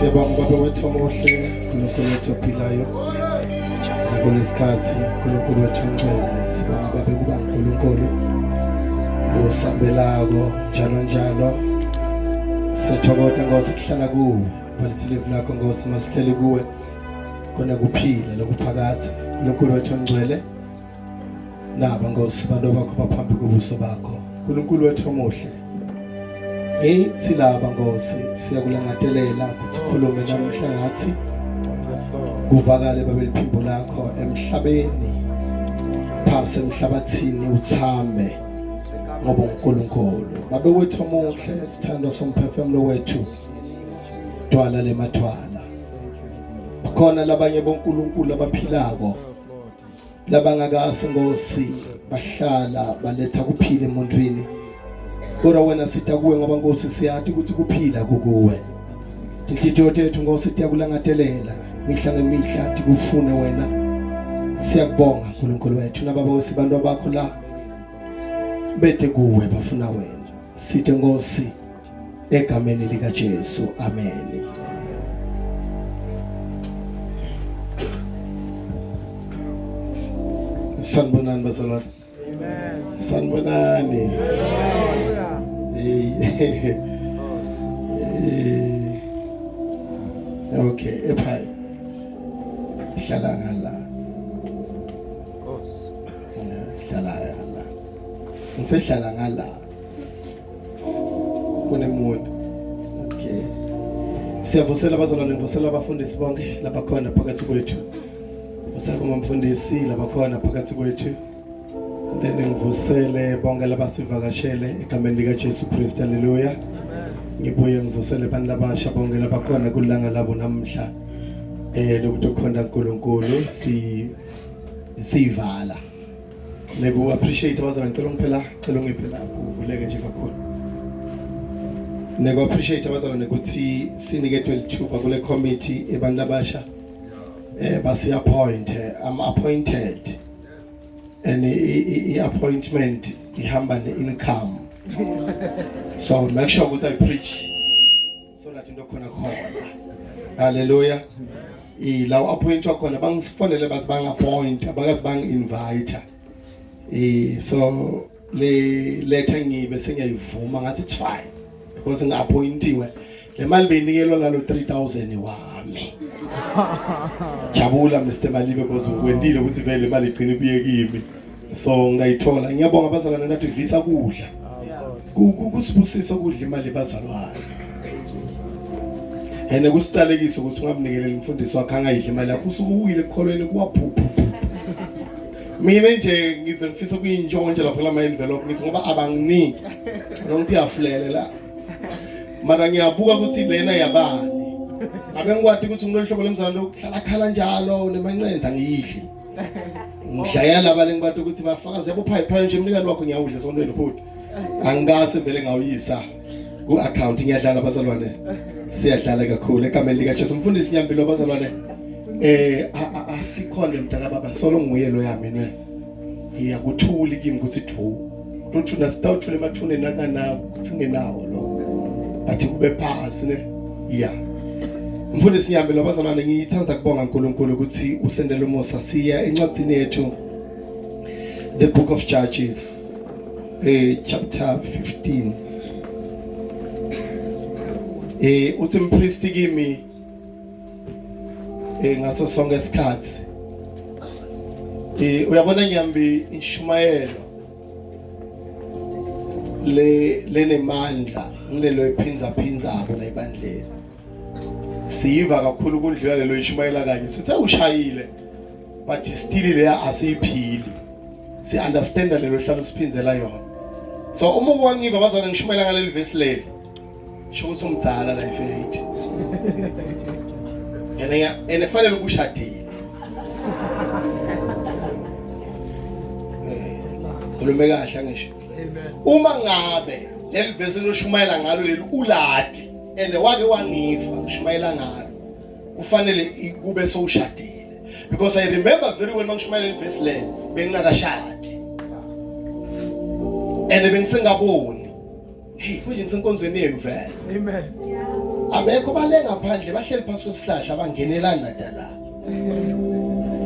Siyabonga baba wethu omuhle, uNkulunkulu wethu ophilayo. Kulesikhathi uNkulunkulu wethu ongcwele, sibonga baba kuba uNkulunkulu osabelako njalo njalo. Siyathokoza Nkosi kuhlala kuwe, balisilevu lakho Nkosi masihleli kuwe. Kona kuphila lokuphakathi. uNkulunkulu wethu ongcwele. naba nkosi bantu bakho baphambi kobuso bakho nkulunkulu wethu omuhle heyi silaba nkosi siyakulangatelela ukuthi ukhulume namuhla ngathi kuvakale babe liphimbo lakho emhlabeni phasi emhlabathini uthambe ngoba uNkulunkulu babe wethu omuhle sithando somphefumulo wethu twala lemathwala khona labanye boNkulunkulu abaphilako labangakazi ngosi bahlala baletha kuphila emuntwini kodwa wena sitha kuwe ngoba nkosi siyati ukuthi kuphila kukuwe tinhliziyo tethu nkosi tiyakulangatelela mihla ngemihla tikufune wena siyakubonga nkulunkulu wethu nababa wesibantu abakho la bethe kuwe bafuna wena sithe nkosi egameni likaJesu amen Sanibonani bazalwane Amen Sanibonani Hey Okay ephaya Hlala ngala Nkosi Hlala ngala Ngisehlala ngala kunemuntu okay siyavusela abazalwane ngivusela abafundisi bonke labakhona phakathi kwethu usakuma mfundisi labakhona phakathi kwethu then ngivusele bonke labasivakashele egameni likaJesu Kristu haleluya ngibuye ngivusele abantu labasha bonke labakhona kulanga labo namhla eh lokuthi ukhona uNkulunkulu si sivala Leku appreciate wazana ngicela ungiphela ngicela ungiphe la kuvuleke nje kakhulu. Neku appreciate wazana nokuthi siniketwe lithuba kule committee ebantu abasha eh basi appoint I'm appointed and i appointment ihamba ne income so make sure ukuthi i preach sona into khona khona haleluya ilawo appointwa khona bangisifonele bathi bangappointa bakazi bangi-invita um so le letha ngibe sengiyayivuma ngathi it's fine because ngi-appointiwe le mali beyinikelwa lalo 3000 wami jabula mr malibe because ukwendile ukuthi vele imali igcina ibuye kimi so ngayithola ngiyabonga abazalwane nathi visa kudla kusibusisa ukudla imali ebazalwane and kusiqalekisa ukuthi ungamnikeleli umfundisi wakhe angayidli imali yakho usuke uwile ekukholweni kuwaphuphu mina nje ngize ngifisa ukuyintshontsha lapho lama envelope ngithi ngoba abanginiki nonke uyafulele la mara ngiyabuka ukuthi lena yabani ngabe ngikwati ukuthi ngilolu hlobo lomzalwane lokuhlala khala njalo nemancenza ngiyidli ngishaya laba lengibathi ukuthi bafakaze yabo phayi phayi nje umnikani wakho ngiyawudla esontweni futhi angikase vele ngawuyisa ku-account ngiyadlala abazalwane siyadlala kakhulu egameni likajesu mfundisi nyambilo abazalwane eh asikhona mntakababa solo nguye lo yami ne ngiyakuthuli kimi ukuthi thu Lutho nasitawuthula emathuneni akanawo singenawo lokho. Athi kube phansi ne. Yeah. Mfundisi ngihambe labazalwane ngithanda kubonga uNkulunkulu ukuthi usendele umusa siya encwadini yethu the book of Judges eh chapter 15 eh uthi mpristi kimi eh ngaso sonke isikhathi eh uyabona nyambi ishumayelo le lenemandla ngilelo iphinza phinza apho la ibandleni siyiva kakhulu kundlela lelo ishumayela kanye sithe ushayile but still leya asiyiphili si understand lelo hlalo siphindela yona so uma kwangiva bazana ngishumayela ngaleli verse leli sho ukuthi umdala la ifeyithi and and efanele ukushadile eh, khulume kahle ngisho uma ngabe leli vesi loshumayela ngalo leli uladi and wake wangifa ushumayela ngalo kufanele kube sowushadile because i remember very well mangishumayela leli vesi leli bengingakashadi and bengisengaboni Hey, kuyini senkonzweni yenu vele? Amen. Abekho bale ngaphandle bahleli phansi kwesihlahla abangenelani nadala.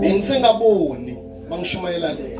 Bengisengaboni mangishumayela le.